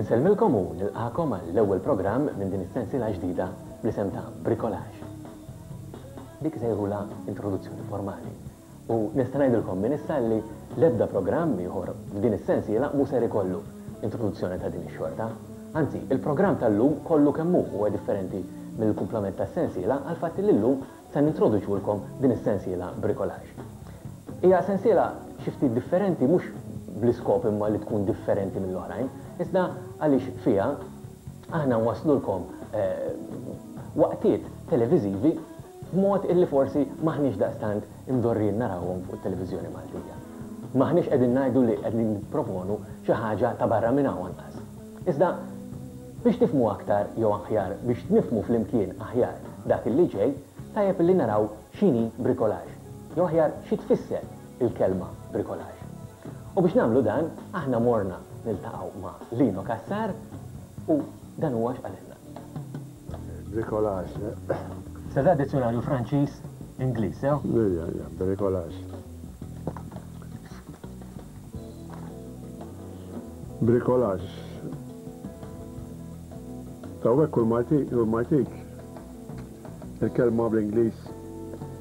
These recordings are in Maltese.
Insellmilkom u nilqagħkom għall-ewwel programm minn din is-sensiela ġdida bl-isem ta' Bricolage. Dik isejħulha introduzzjoni formali u nista' ngħidilkom minn issa li l-ebda programm ieħor f'din is-sensiela mhu ser ikollu introduzzjoni ta' din ix-xorta. Anzi, il-programm tal-lum kollu kemm hu huwa differenti mill-kumplament tas-sensiela għall-fatt li llum Se nintroduċulkom din is-sensiela Bricolage. Hija sensiela xi ftit differenti mhux bl-iskop imma li tkun differenti mill-oħrajn, iżda għaliex fiha aħna nwasslulkom waqtiet televiżivi b'mod illi forsi m'aħniex daqstant imdorrijin narawhom fuq it-televiżjoni Maltija. M'aħniex qegħdin ngħidu li qegħdin nipproponu xi ħaġa ta' barra minn hawn anqas. Iżda, biex nifhmu aktar jew aħjar biex nifhmu flimkien aħjar dak illi ġej, tajjeb illi naraw x'inhi bricolage, jew aħjar xi tfisser il-kelma bricolage. U biex nagħmlu dan, aħna morna niltaqgħu ma' Lino Cassar u dan huwa x'qalilna. Bricolage. Se da dizzjunarju Franċiż, Ingliż, sew? Ija, ija, bricolage. Bricolage. Tawwek kull ma jtik, kull ma jtik. Il-kelma bl-Ingliż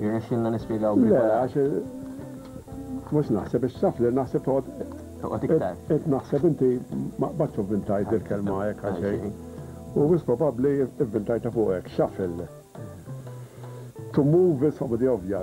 Jirnexxilna nispjegaw b'rigola. Le, għax mhux naħseb biex taf li naħseb toqgħod. Toqgħod iktar. Qed naħseb inti ma qbadtx u vvintajt dil-kelma hekk għal xejn. U wis probabbli vvintajtha fuqek, shuffle. To move is obvja.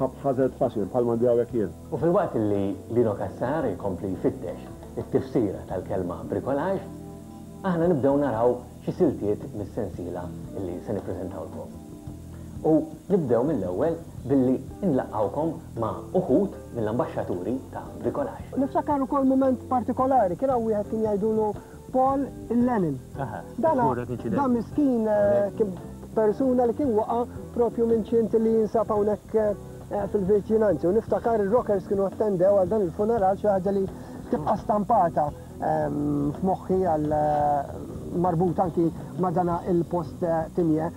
Ħabb ħażel b'paċi, bħal m'għandi hawnhekk jien. U filwaqt li Lino Cassar ikompli jfittex it-tifsira tal-kelma bricolage, aħna nibdew naraw xi siltiet mis-sensiela li se nippreżentawlkom. U nibdew mill-ewwel billi nlaqqgħukom ma' uħud mill-ambaxxaturi ta' bricolage. Niftakar ukoll mument partikolari, kien hawn wieħed kien jgħidulu Paul Lennon. Dan dan miskin kien persuna li kien waqa' propju minn ċint li jinsab hawnhekk fil-viċinanzi. U niftakar ir-rockers kienu attendew għal dan il-funeral xi ħaġa li tibqa' stampata f'moħħi għal marbut anki ma' dan il-post tinje.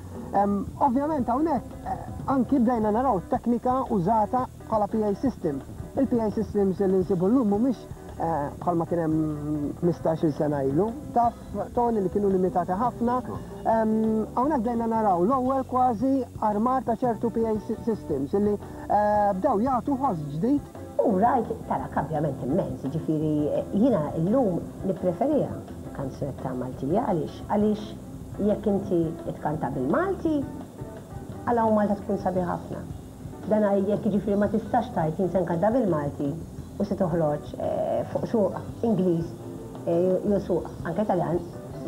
Ovvjament hawnhekk anki bdejna naraw teknika użata Bħala PA system, il-PA systems li nsibu llum mhumiex bħalma kien hemm 15-il sena ilu, taf Tony li kienu limitati ħafna. Hawnhekk bdejna naraw l-ewwel kważi armar ta' ċertu PA systems li bdew jagħtu ħoss ġdid. U rajt, tara, kambjament immens, jiġifieri jiena llum nippreferiha kanzunetta Maltija għaliex? Għaliex jekk inti tkanta bil-Malti, għala u Malta tkun sabiħa ħafna? Dan għal jekk jiġifieri ma tistax tgħid jien se nkanta bil-Malti u se toħroġ fuq suq Ingliż jew suq anke Taljan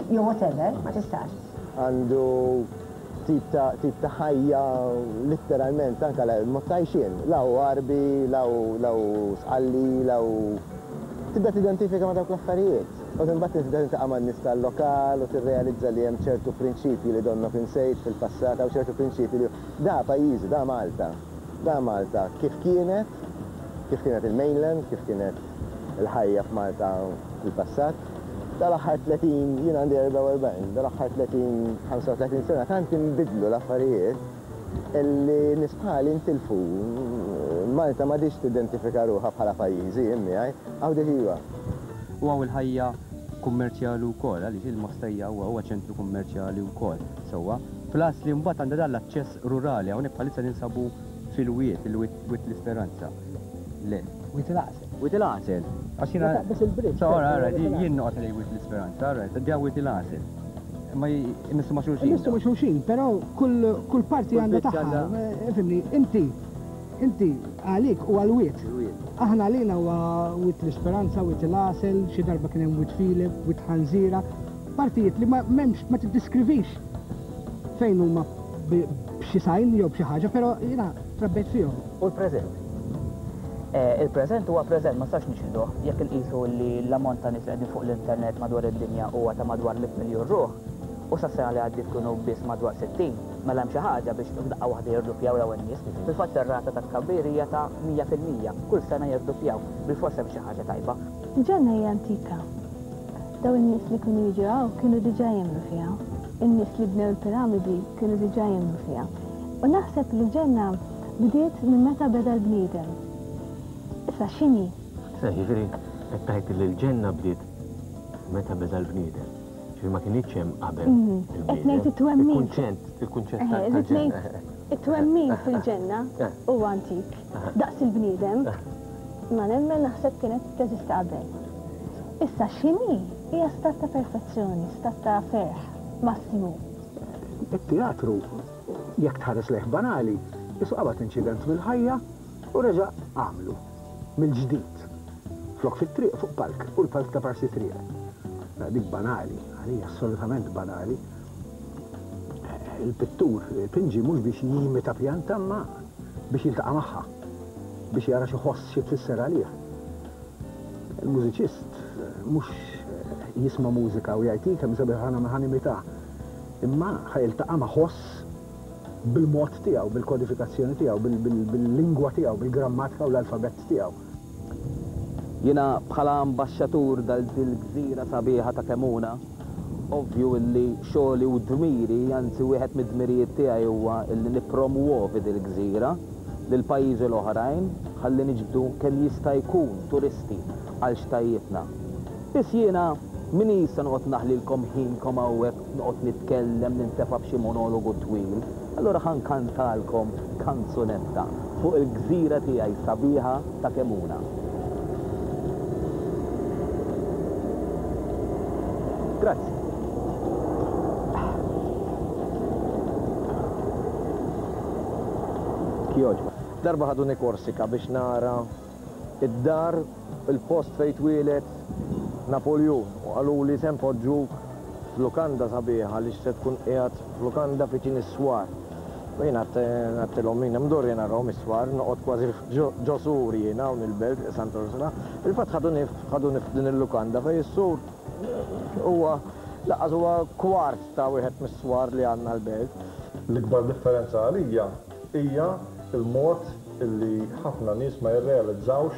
jew whatever, ma tistax. Għandu tip ta' tip ta' ħajja litteralment anke mod ta' għixien. La hu Għarbi, la hu la hu Sqalli, la hu tibda tidentifika ma' dawk l-affarijiet. U imbagħad tibda tiltaqa' man-nies tal-lokal u tirrealizza li hemm ċertu prinċipji li donnok insejt fil-passat, hawn ċertu prinċipji li. Da pajjiżi, da Malta. Da Malta kif kienet, kif kienet il-mainland, kif kienet il-ħajja f'Malta fil-passat. Dal-aħħar 30, jien għandi 44, dal-aħħar 30, 35 sena tant inbidlu l-affarijiet illi nies bħali ntilfu. Malta m'għadhiex tidentifika ruħha bħala pajjiżi, jien miegħi. Hawn dik iva. U hawn il-ħajja kummerċjali wkoll, għaliex il-Mostejja huwa ċentru kummerċjali wkoll sewwa. Plus li mbagħad għandha dan l-aċċess rurali, hawnhekk bħalissa ninsabu fil-wied, il-wied Wied l-Isperanza. Le. Wied il-Għasel. Wied il-Għasel. Għax jiena. Taqbeż il-bridge. So, ara, ara, jien noqgħod ngħid Wied l-Isperanza, ara, qed ngħid Wied il-Għasel. Imma jmissu ma' xulxin. Jmissu ma' xulxin, però kull parti għandha tagħha. Fimni, inti inti għalik u għal-wied. Aħna għalina huwa wied l-Isperanza, wied il-Għasel, xi darba kien hemm wied Filip, wied Ħanżira, Partijiet li ma m'hemmx, ma tiddiskrivix fejn huma b'xi sign jew b'xi ħaġa, però jiena trabbejt fihom. U l-preżent? Il-preżent huwa preżent, ma nistax niċħduh. Jekk inqisu li l-ammont ta' nies li qegħdin fuq l-internet madwar id-dinja huwa ta' madwar mitt miljun ruħ, u sas-sena li għaddiet kienu biss madwar sittin, mela hemm xi ħaġa biex f'daqqa waħda jirduppjaw dawn in-nies. Fil-fatt ir-rata ta' tkabbir hija ta' mija fil-mija, kull sena jirduppjaw. Bilfors hemm xi ħaġa tajba. Ġenna hija antika. Dawn in-nies li kienu jiġu hawn kienu diġà jemmnu fiha. In-nies li bnew il-piramidi kienu diġà jemmnu fiha. U naħseb li l-ġenna bdiet minn meta beda l-bniedem. Issa x'inhi? Issa jiġifieri qed tgħid li l-ġenna bdiet meta beda l-bniedem. Ġifieri ma kinitx hemm qabel il-bniedem. Mhm. Qed ngħid it-twemmin. Il-kunċett, il-kunċett tal-ġenna. It-twemmin fil-ġenna huwa antik. daqs il-bniedem, ma nemmen naħseb kienet teżisti qabel. Issa x'inhi hija stat ta' perfezzjoni, stat ta' ferħ massimu. It-teatru, jekk tħares lejh banali, qisu qabad inċident mill-ħajja u reġa' għamlu mill-ġdid. Flok fit-triq fuq palk u l-palk ta' parsi triq. Mela dik banali, għalija assolutament banali, Il-pittur pinġi mhux biex jimita pjanta imma biex jiltaqa' magħha, biex jara x'iħoss, xi tfisser għalih. Il-mużiċist mhux jisma' mużika u jgħid hi kemm sabiħa ħana ħa nimitha, imma ħa jiltaqa' ma' ħoss bil-mod tiegħu, bil-kodifikazzjoni tiegħu, bil-lingwa tiegħu, bil-grammatika u l-alfabett tiegħu. Jiena bħala ambaxxatur dal dil gżira sabiħa ta' Kemmuna, ovvju illi xogħli u dmiri, anzi wieħed mid-dmirijiet tiegħi huwa illi nippromwovi dil gżira lil pajjiżi l-oħrajn ħalli niġbdu kemm jista' jkun turisti għal xtajjitna. Biss jiena m'inis se noqgħod naħlilkom ħinkom hawnhekk Noqgħod nitkellem, nintefa' b'xi monologu twil. Allura ħa nkantalkom kanzunetta fuq il-gżira tiegħi sabiħa ta' Kemuna. Grazzi. Jogħġbok. Darba ħaduni Korsika biex nara. id-dar, il-post fejn twieled Napoljun u qaluli se npoġġuk f'lukanda sabiħa għaliex se tkun qiegħed f'lukanda viċin is-swar. U jiena għedtilhom min hemm dur jiena nrahom is-swar, noqgħod kważi ġo sur jiena hawn il-belt Santa Ursula. Fil-fatt ħaduni ħaduni f'din il-lukanda fejn is-sur huwa lanqas huwa kwart ta' wieħed mis-swar li għandna l-belt. L-ikbar differenza għalija hija l-mod li ħafna nies ma jirrealizzawx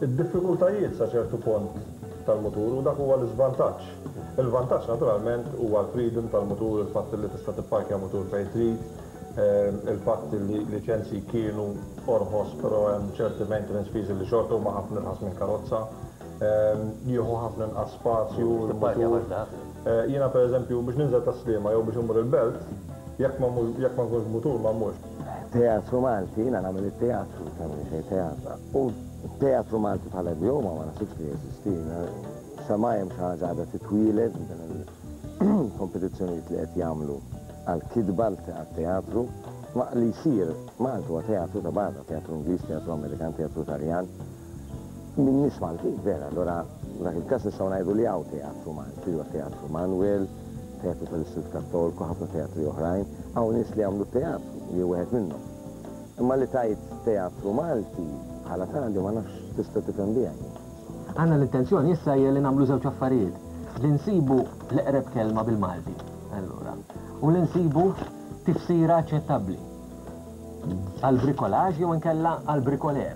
id-diffikultajiet sa ċertu pont tal-mutur u dak huwa l-iżvantaġġ. Il-vantaġġ naturalment huwa l-freedom tal-mutur, il-fatt li tista' tipparkja mutur fejn trid, il-fatt li liċenzji kienu orħos però hemm ċerti maintenance fees li xorta huma ħafna irħas minn karozza, jieħu ħafna inqas spazju l-mutur. Jiena pereżempju, biex ninżel tas-Sliema jew biex immur il-Belt, jekk ma mmur, jekk ma nkunx b'mutur ma mmurx. Teatru Malti, jiena nagħmel it-teatru, tagħmel xejn teatra. U t-teatru Malti bħala idjoma ma naħsibx li jeżisti. Xemgħajn xi ħaġa għadha titwieled minn dawn il-kompetizzjonijiet li qed jagħmlu għall-kitba, għat-teatru. Ma li jsir, Malta huwa teatru ta' barra, teatru Ingliż, teatru Amerikan, teatru Taljan. Min jgħix Maltin, vera, allura f'dak il-każ nistgħu ngħidu li hawn teatru Malti, li huwa Teatru Manwel, Teatru tal-Istitut Kattolku, ħafna teatri oħrajn, hawn nies li jagħmlu t-teatru, jien wieħed minnhom. Imma li tgħid teatru Malti bħala tali ma nafx x'tista' tifhem biha jien. Aħna l-intenzjoni issa hija li nagħmlu żewġ affarijiet, li nsibu l-eqreb kelma bil-Malti, allura, u li nsibu tifsira aċċettabbli għall-bricolage jew inkella għall-bricoleur.